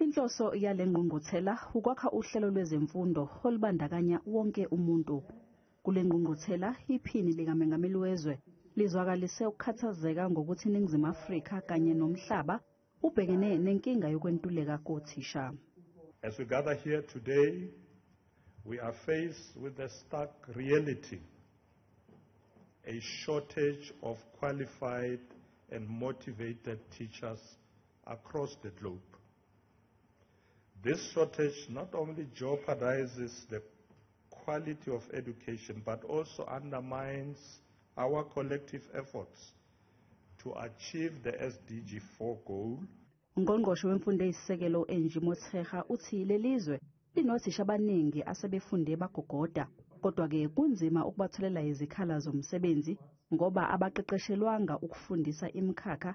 Inhloso yale ngqungquthela ukwakha uhlelo lwezemfundo olubandakanya wonke umuntu. Kule ngqungquthela iPhini likaMengameli wezwe lizwakalise ukukhathazeka ngokuthi iNingizimu Afrika kanye nomhlaba ubhekene nenkinga yokwentuleka kothisha. As we gather here today, we are faced with the stark reality, a shortage of qualified and motivated teachers across the globe. This shortage not only jeopardizes the quality of education but also undermines our collective efforts to achieve the SDG 4 goal. Ungqongqoshe wemfundo eyisisekelo u-Angie Motshekga uthi lelizwe linothisha abaningi asebefunde bagogoda kodwa-ke kunzima ukubatholela izikhala zomsebenzi ngoba abaqeqeshelwanga ukufundisa imikhakha